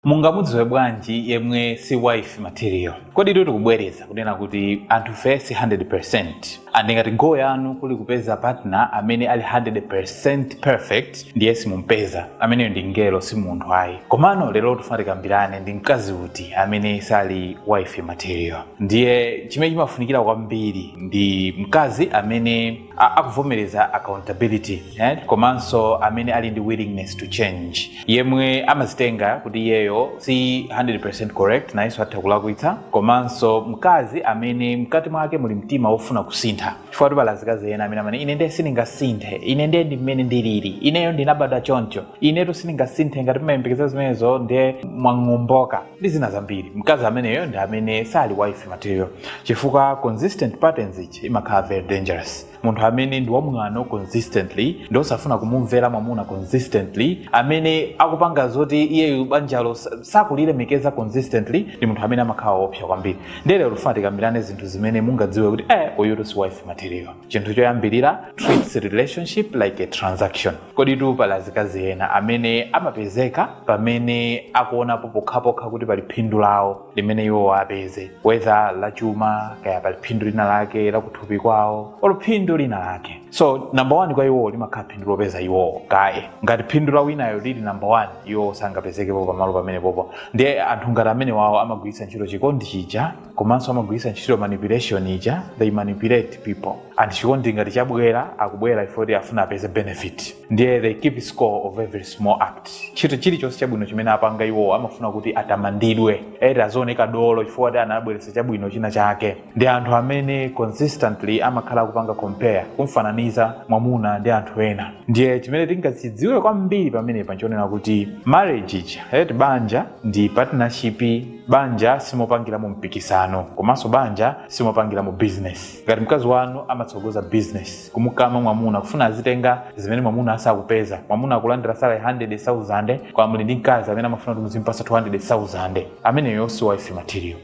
Mungamudziwe bwanji yemwe si wife material? Koditu tikubwereza kunena kuti anthufe si 100%. And ngati goal yanu kuli kupeza partner amene ali 100% perfect ndiye simumupeza. Ameneyo ndi mngelo si munthu ayi. Komano lero tifuna tikambirane ndi mkazi uti amene sali wife material. Ndiye chimene chimafunikira kwambiri ndi mkazi amene a akuvomereza accountability eh, komanso amene ali ndi willingness to change yemwe amazitenga kuti iyeyo si 100% correct nayenso atha kulakwitsa komanso mkazi amene mkati mwake muli mtima wofuna kusintha chifukwa tu pali azikazi ena amene amanena ine ndiye sindingasinthe ine ndiye ndi mmene ndilili ineyo ndinabadwa choncho inetu sindingasinthe ngati mmayembekeza zimenezo ndiye mwang'omboka ndi zina zambiri mkazi ameneyo ndi amene sali wife material chifukwa consistent patterns ichi imakhala very dangerous munthu amene ndi wamwano consistently ndi osafuna kumumvera mwamuna consistently amene akupanga zoti iyeyu banjalo sa- sakulilemekeza consistently ndi munthu amene amakhala woopsa kwambiri ndiye lero tifuna tikambirane zinthu zimene mungadziwe kuti eh uyutu si wife material chinthu choyambirira treats relationship like a transaction Koditu pali azikazi ena amene amapezeka pamene akuonapo pokhapokha kuti pali phindu lawo limene iwowo apeze, whether la chuma, kaya pali phindu lina lake la kuthupi kwawo, olo phindu lina lake. So, number one kwa iwowo limakhala phindu lopeza iwowo kaye. Ngati phindu la winayo lili number one, iwowo sangapezekepo pamalo pamenepopo. Ndiye anthu ngati amenewawo amagwiritsa ntchito chikondi chija. komanso amagwiritsa ntchito manipulation ija they manipulate people and chikondi ngati chabwera akubwera chifukwa choti afuna apeze benefit ndiye they keep score of every small act chinthu chilichonse chabwino chimene apanga iwowo amafuna kuti atamandidwe eti azioneka dolo chifukwa kuti anabweretsa chabwino china chake ndi anthu amene consistently amakhala akupanga compare kumfananiza mwamuna ndi anthu ena ndiye chimene tingachidziwe kwambiri pamenepa nchonena kuti marriage ija eti banja ndi partnership banja simopangiramo mpikisano komanso banja simopangiramo business ngati mkazi wanu amatsogoza business kumukama mwamuna kufuna azitenga zimene mwamuna asakupeza mwamuna akulandira salary 100000 kwa muli ndi mkazi amene amafuna kuti muzimpasa 200000 ameneyo si wife material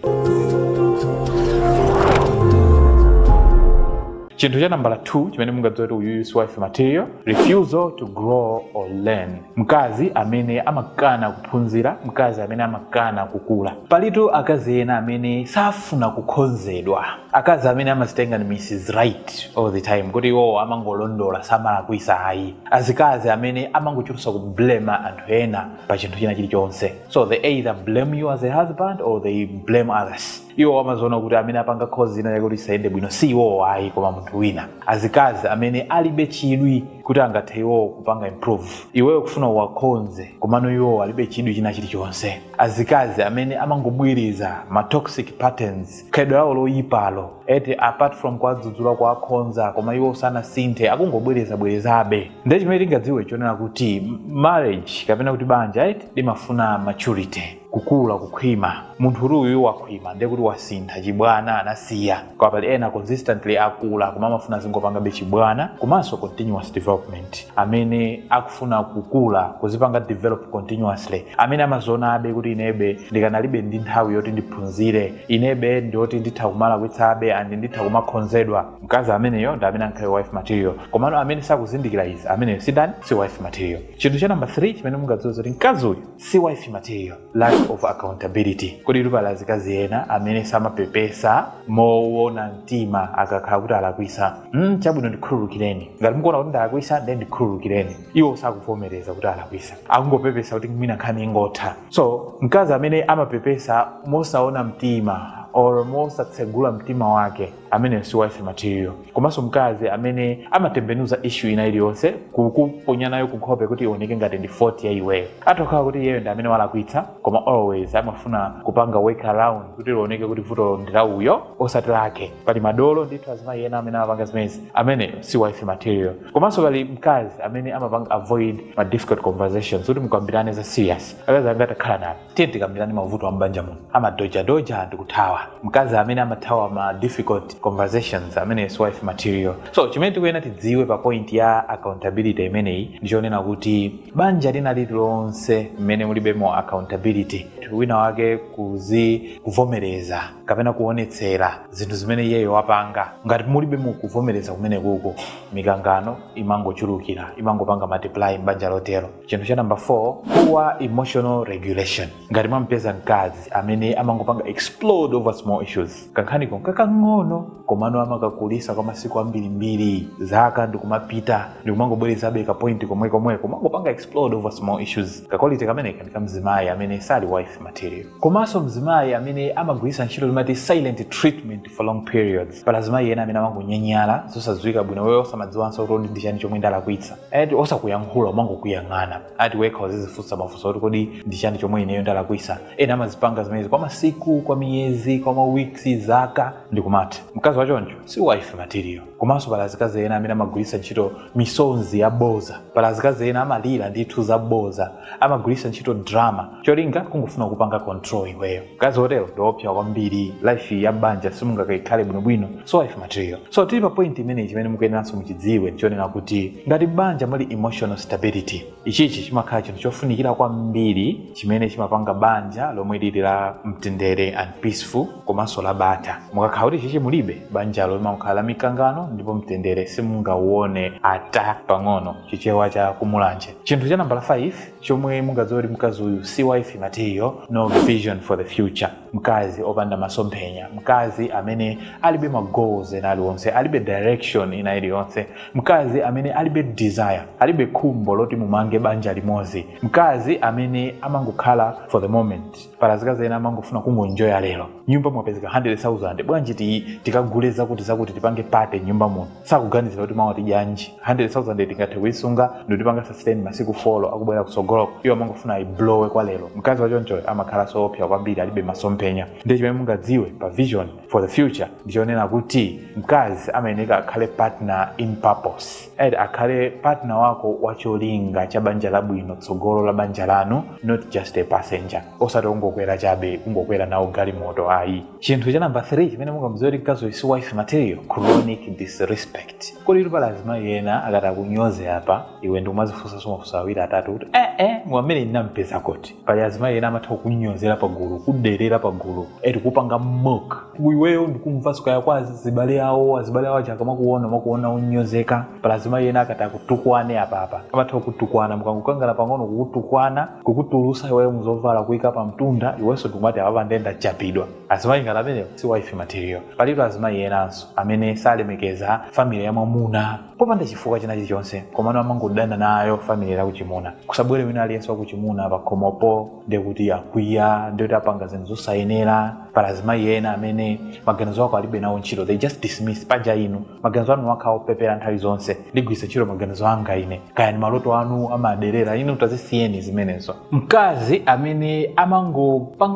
chinthu cha nambala 2 chimene mungadziwire kuti uyuyu si wife material refusal to grow or learn Mkazi amene amakana kuphunzira, mkazi amene amakana kukula. Palitu akazi ena amene safuna kukhonzedwa. Akazi amene amazitenga ndi Mrs Right all the time kuti iwowo amangolondola samalakwisa ayi. Azikazi amene amangochulusa kublame anthu ena pa chinthu china chilichonse. So they either blame you as a husband or they blame others. iwo amaziona kuti amene apanga cause china chake kuti chisayende bwino si iwowo ayi koma munthu wina azikazi amene alibe chidwi kuti angathe iwowo kupanga improve iweyo kufuna uwakonze komano iwowo alibe chidwi china chilichonse azikazi amene amangobwereza ma toxic patterns khalidwe lawo loyipalo eti apart from kuwadzudzula kuwakonza koma iwo sanasinthe akungobwerezabwerezabe ndiye chimene tingadziwe choonena kuti marriage kapena kuti banja limafuna maturity kukula kukhwima munthu oti uyu wakhwima ndiye kuti wasintha chibwana anasiya koma pali ena consistently akula koma amafuna azingopangabe chibwana komanso continuous development amene akufuna kukula kuzipanga develop continuously amene amazionabe kuti inebe ndikanalibe ndi nthawi yoti ndiphunzire inebe ndi oti nditha kumalakwitsabe and nditha kumakhonzedwa mkazi ameneyo ndi amene ankhale wife material komano amene sakuzindikira izi ameneyo si chani si wife material chinthu cha namba 3 chimene mungadziwe zoti mkazi uyu si wife material. lack of accountability komatu pali azikazi ena amene samapepesa mowona mtima akakhala kuti alakwisa mm, chabwino ndikhululukireni ngati mukuona kuti ndalakwisa ndiye ndikhululukireni iwo sakuvomereza kuti alakwisa akungopepesa kuti mwina nkhani ingotha so mkazi amene amapepesa mosaona mtima or mosatsegula mtima wake ameneyo si wife material komanso mkazi amene amatembenuza issue ina iliyonse kukuponya nayo kunkhope kuti ioneke ngati ndi fault ya iweyo atokhala kuti iyeyo ndi amene walakwitsa koma always amafuna kupanga work around kuti lioneke kuti vutolo ndi la uyo osati lake pali madolo ndithu azimayi ena amene amapanga zimenezi ameneyo si wife material komanso pali mkazi amene amapanga avoid ma difficult conversations kuti mukambirane za serious akazi anga takhalani apo tiye tikambirane mavuto a m'banja muno amadojadoja ndi kuthawa mkazi amene amathawa ma difficult conversations amene si wife material so chimene tikuyenera tidziwe pa point ya accountability imeneyi ndi choonena kuti banja lina lililonse mmene mulibemo accountability wina wake kuzi kuvomereza kapena kuonetsera zinthu zimene iyeyo wapanga ngati mulibemo kuvomereza kumenekuko mikangano imangochulukira imangopanga multiply m'banja lotero chinthu cha number 4 poor emotional regulation ngati mwampeza mkazi amene amangopanga explode over small issues kankhaniko kakang'ono komano amakakulisa kwa masiku ambirimbiri zaka ndikumapita ndikumangobwerezabe kapointi komwekomweko kumangopanga explode over small issues kakwalite kameneko ndi kamzimayi amene sali wife material komanso mzimayi amene amagwiritsa ntchito limati silent treatment for long periods pali azimayi ena amene amangonyanyala zosadziwika bwino iwe osamadziwanso kuti kodi ndi chani chomwe ndalakwitsa ati osakuyankhula kumangokuyang'ana ati wekha uzizifunsa mafunso kuti kodi ndi chani chomwe ineyo ndalakwitsa ena amazipanga zimenezi kwa masiku kwa miyezi kwa mawiksi zaka ndikumatha mkazi wachoncho si wife material komanso pali azikazi ena amene amagwiritsa ntchito misonzi yaboza pali azikazi ena amalira ndithu zaboza amagwiritsa ntchito drama cholinga kungofuna kupanga control iweyo mkazi otero ndiopsa kwambiri life ya banja simungakaikhale bwinobwino si wife material so tili pa point imeneyi chimene mukuyeneranso muchidziwe ndichonena kuti ngati banja muli emotional stability Ichichi chimakhala chinthu chofunikira kwambiri chimene chimapanga banja lomwe lili la mtendere and peaceful komanso la bata. Mukakhala kuti ichichi mulibe, banjalo limangokhala la mikangano ndipo mtendere simungauone ata pang'ono, chichewa cha ku Mulanje. Chinthu cha nambala 5 chomwe mungadziwe kuti mkazi uyu si wife material, no vision for the future. mkazi opanda masomphenya mkazi amene alibe ma goals ena aliwonse alibe direction ina iliyonse mkazi amene alibe desire alibe khumbo loti mumange banja limodzi mkazi amene amangokhala for the moment pala zikazi ena amangofuna kungonjoya lero m'nyumba mwapezeka 100000 bwanji ti- tikagule zakuti zakuti tipange party m'nyumba muno sakuganizira kuti mawa tidyanji 100000 tingathe kuyisunga ndikutipanga sustain masiku folo akubwera kutsogoloko iwo amangofuna ayiblowe kwa lero mkazi wachonchoyo amakhalanso oopsa kwambiri alibe masomphenya ndiye chimene mungadziwe pa vision for the future ndichonena kuti mkazi amayeneka akhale partner in purpose akhale partner wako wa cholinga cha banja labwino tsogolo la banja lanu not just a passenger osati kungokwera chabe kungokwera nawo galimoto ayi chinthu cha namba 3 chimene mungamudziwe kuti mkazi uyu si wife material chronic disrespect kodi eti pali azimayi ena akati akunyoze apa iwe ndikumazifunsanso mafunso awiri atatu kuti eh eh amene ndinampeza kuti pali azimayi ena amatha kukunyozera pagulu kuderera pagulu eti kupanga mock iweyo ndikumva sikaya kwa azibale awo azibale awo akamakuona amakuona onyozeka pali azimayi ena akati akutukwane apapa amatha kukutukwana mukangokangana pang'ono kukutukwana kukutulusa iweyo muzovala kuika pa mtunda iwenso ndikumati apapa nde ndachapidwa azimayi ngati amenewo si wife material palitu azimayi enanso amene salemekeza family ya mwamuna popanda chifukwa china chilichonse komano amangodana nayo family ya kuchimuna kusabwere wina aliyense wakuchimuna pakhomopo ndekuti akwiya ndekuti apanga zinthu zosayenera pali azimayi ena amene maganizo ako alibe nawo ntchito they just dismiss paja inu maganizo anu amakhala opepera nthawi zonse ndigwiritsa ntchito maganizo anga ine kaya ndi maloto anu amaderera inu tazisiyeni zimenezo mkazi amene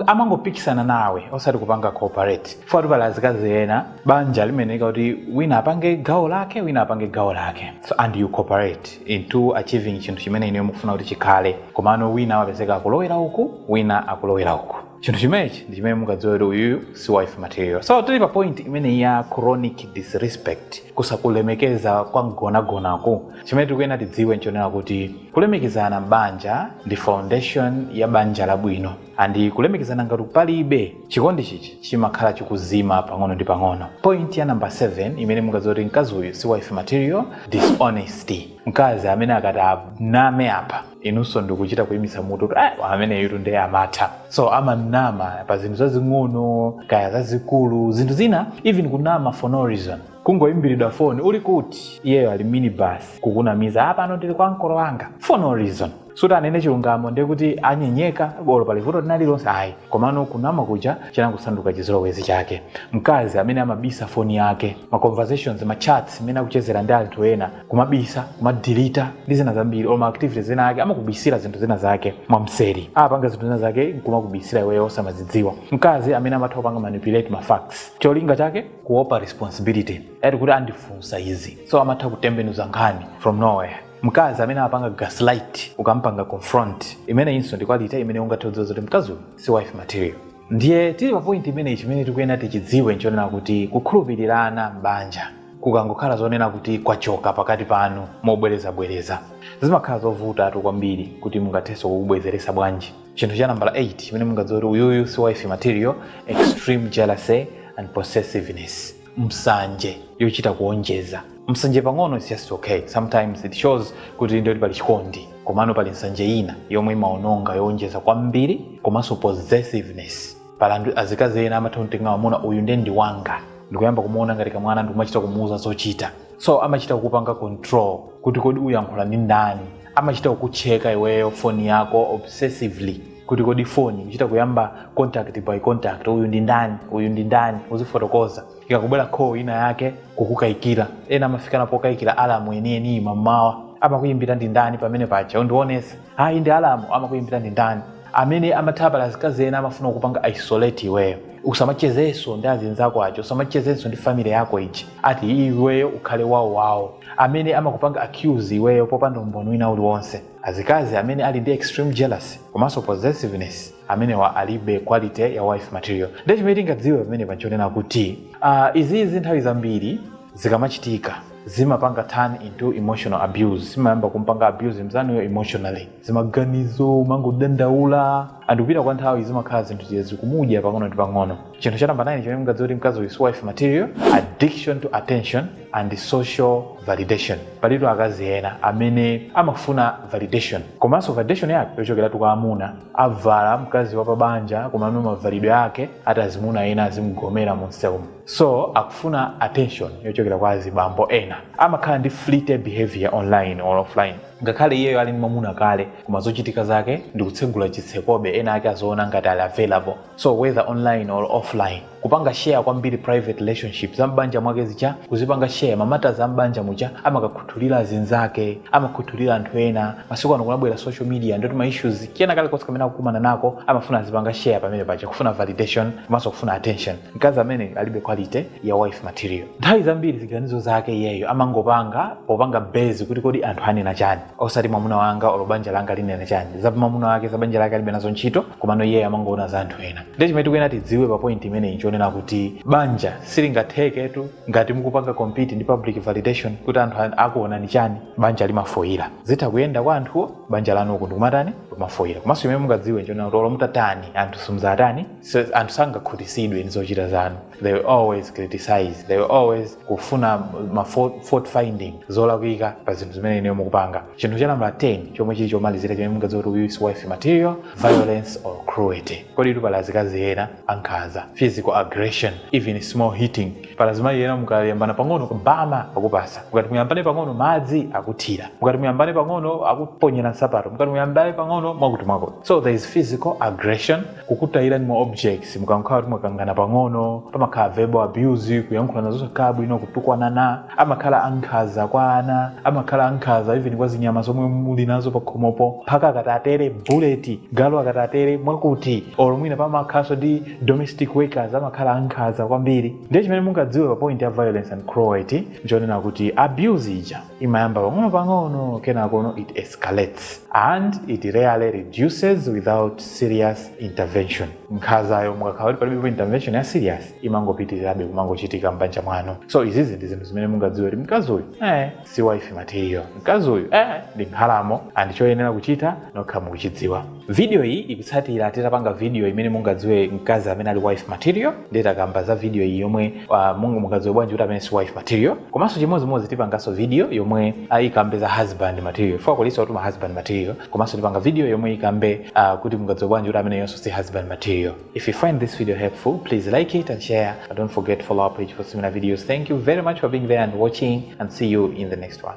amangopikisana nawe osati kupanga cooperate chifukwatu pali azikazi ena banja limayeneka kuti wina apange gawo lake wina apange gawo lake so, and you cooperate into achieving chinthu chimene inuyo mukufuna kuti chikhale komano wina amapezeka akulowera uku wina akulowera uku chinthu chimenechi ndi chimene mungadziwe kuti uyuyu si wife material so tili pa point imeneyi ya chronic disrespect kusakulemekeza kwa mgonagonaku chimene tikuyenera tidziwe nchonena kuti kulemekezana m'banja ndi foundation ya banja labwino andi kulemekezana ngati palibe chikondi chichi chimakhala chikuzima pang'ono ndi pang'ono point ya namba 7 imene mungadziwe kuti mkazi uyu si wife material dishonesty mkazi amene akati aname apa inunso ndikuchita kuyimitsa mutu kuti Ah, ameneyutu ndiye amatha so amanama pa zinthu zazing'ono kaya zazikulu zinthu zina even kunama for no reason kungoyimbiridwa foni uli kuti iyeyo ali mu minibus kukunamiza apano ndili kwa mkolo wanga for no reason sikuti anene chilungamo ndiye kuti anyenyeka olo pali vuto lina lililonse ayi komano kunama kuja chinangosanduka chizolowezi chake mkazi amene amabisa foni yake ma conversations ma chats amene akuchezera ndi anthu ena kumabisa kumadelita ndi zina zambiri or ma activities ena ake amakubisira zinthu zina zake mwamseri apanga zinthu zina zake nkumakubisira iweyo osamazidziwa mkazi amene amatha kupanga manipulate ma facts cholinga chake kuopa responsibility ati kuti andifunsa izi so amatha kutembenuza nkhani from nowhere mkazi amene apanga gaslight ukampanga confront imeneyinso ndi quality imene ungathe kudziwa zoti mkazi uyu si wife material ndiye tili pa point imeneyi chimene tikuyenera tichidziwe nchonena kuti kukhulupirirana m'banja kukangokhala zonena kuti kwachoka pakati panu mobwerezabwereza zimakhala zovutatu kwambiri kuti mungathenso kukubwezeresa bwanji chinthu cha nambala 8 chimene mungadziwe kuti uyuyu si wife material extreme jealousy and possessiveness msanje yochita kuonjeza msanje pang'ono is just okay sometimes it shows kuti inde pali chikondi komano pali msanje ina yomwe imaononga yoonjeza kwambiri komanso possessiveness pali azikazi ena amatha kumtenga mamuna uyu nde ndi wanga ndikuyamba kumuona ngati kamwana ndikumachita kumuuza zochita so amachita kukupanga control kuti kodi ukuyankhula ndi ndani amachita kukucheka iweyo foni yako obsessively kuti kodi foni kuchita kuyamba contact by contact uyu ndi ndani uyu ndi ndani uzifotokoza ikakubwera call ina yake kukukayikira ena amafikana pokayikira alamu yeniyeniyi m'mamawa amakuyimbira ndi ndani pamene paja undionese ayi ndi alamu amakuyimbira ndi ndani amene amatha pali azikazi ena amafuna kukupanga isolate iweyo usamachezenso ndi azinzako aja usamachezenso ndi family yako ija ati iweyo ukhale wawo wawo amene amakupanga accuse iweyo popanda umboni wina uliwonse Azikazi amene ali ndi extreme jealousy komanso possessiveness amenewa alibe quality ya wife material. Ndiye chimene tingadziwe pamenepa nchonena kuti uh, izizi nthawi zambiri zikamachitika zimapanga turn into emotional abuse, zimayamba kumpanga abuse mzanuyo emotionally, m'maganizo umangodandaula ndi kupita kwa nthawi zimakhala zinthu zija zikumudya pang'ono ndi pang'ono chinthu cha namba 9 chimene mungadziwe kuti mkazi uyu si wife material addiction to attention and social validation palitu akazi ena amene amafuna validation komanso validation yake yochokeratu kwa amuna avala mkazi wa pabanja komano mavalidwe ake ati azimuna ena azimugomera mumsewumu so akufuna attention yochokera kwa azibambo ena amakhala ndi flirty behavior online or offline Ngakhale iyeyo ali ndi mwamuna kale koma zochitika zake ndikutsegula chitsekobe ena ake aziona ngati ali available so whether online or offline kupanga share kwambiri private relationship za m'banja mwake zija kuzipanga share ma matters a m'banja muja amakakhuthulira azinzake amakhuthulira anthu ena masiku ano kunabwera social media ndiye kuti ma issues kena kalikonse kamene akukumana nako amafuna azipanga share pamene paja kufuna validation komanso kufuna attention mkazi ameneyo alibe quality ya wife material nthawi zambiri ziganizo zake iyeyo amangopanga popanga base kuti kodi anthu anena chani osati mwamuna wanga olo banja langa linena chani za mwamuna wake za banja lake alibe nazo ntchito komano iyeyo amangoona za anthu ena ndiye chimene tikuyenera tidziwe pa point imeneyi nchonena kuti banja silingatheketu ngati mukupanga compete ndi public validation kuti anthu an- akuonani chani banja limafoyira zitha kuyenda kwa anthuwo banja lanu uku ndikumatani kumafoyira komanso imene mungadziwe nchonena kuti olo mutatani anthu simuzatani so anthu sangakhutisidwe ndi zochita zanu they will always criticize they will always kufuna fault fault finding zolakwika pa zinthu zimene inuyo mukupanga chinthu cha namba 10 chomwe chili chomalizira chimene mungadziwe kuti uyu si wife material violence or cruelty koditu pali azikazi ena ankhanza physical aggression even small hitting pali azimayi ena mukayambana pang'ono mbama akupatsa mukati muyambane pang'ono madzi akuthira mukati muyambane pang'ono akuponyera nsapato mukati muyambane pang'ono mwakuti mwakuti so there is physical aggression kukutayirani ma objects mukakhala kuti mwakangana pang'ono pamakhala verbal abuse kuyankhulana zosakhala bwino kutukwanana amakhala ankhanza kwa ana amakhala ankhanza even kwa zinyama zomwe muli nazo pakhomopo mphaka akati atere bullet galu akati atere mwakuti olo mwina pamakhalanso ndi domestic workers amakhala ankhanza kwambiri ndiye chimene mungadziwe pa point ya violence and cruelty nchonena kuti abuse ija imayamba pang'ono-pang'ono kenakono it escalates and it rarely reduces without serious intervention nkhanzayo mukakhala kuti palibepo intervention ya serious imangopitirirabe kumangochitika m'banja mwanu so izizi ndi zinthu zimene mungadziwe kuti mkazi uyu eh, si wife material mkazi uyu eh, ndi nkhalamo and choyenera kuchita nokha mukuchidziwa Video iyi ikutsatira titapanga video imene mungadziwe mkazi amene ali wife material ndiye takamba za video iyi yomwe uh, mungu mungadziwe bwanji kuti ameneyu si wife material komanso chimodzimodzi tipanganso video yomwe uh, ikambe za husband material fo akulisa kuti ma husband material komanso tipanga video yomwe ikambe uh, kuti mungadziwe bwanji kuti ameneyunso si husband material if you find this video helpful please like it and share and don't forget to follow our page for similar videos thank you very much for being there and watching and see you in the next one